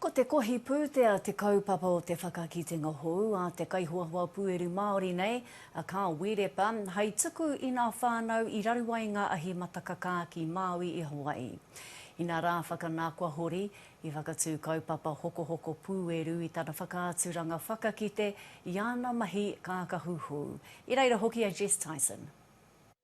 Ko te kohi pūtea te kaupapa o te whakakitenga hou a te kaihoahoa pueru Māori nei, a Carl Wīrepa, hei tuku i ngā whānau i raru ai ngā ahi matakakā ki Māui i Hawaii. Inā rā whakanā kua hori, i whakatū kaupapa hokohoko pūeru i tana whakaaturanga whakakite i ana mahi kākahu hou. I reira hoki a Jess Tyson.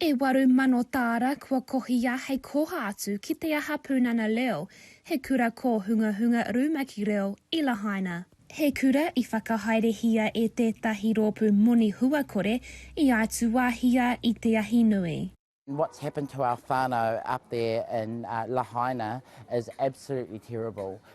E waru mano tāra kua kohia hei koha atu ki te aha Pūnana Leo, he kura kōhungahunga rumaki reo i Lahaina. He kura i whakahaerehia e tētahi rōpū moni huakore i aituāhia i te ahi nui. What's happened to our whanau up there in Lahaina is absolutely terrible.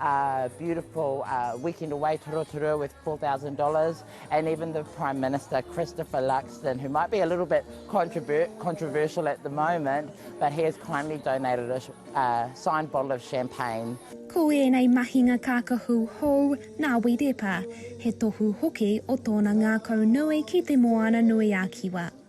a beautiful uh, weekend away to Rotorua with $4,000, and even the Prime Minister, Christopher Luxon, who might be a little bit controver controversial at the moment, but he has kindly donated a uh, signed bottle of champagne. Ko ēnei mahinga kākahu hou nā Wirepa, he tohu hoki o tōna ngākau nui ki Te Moana-nui-a-Kiwa.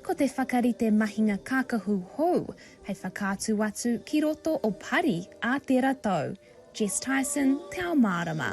Ko te whakarite mahinga kākahu hou hei whakaatu atu ki roto o Pari ā tera tau. Jess Tyson, Te Ao Mārama.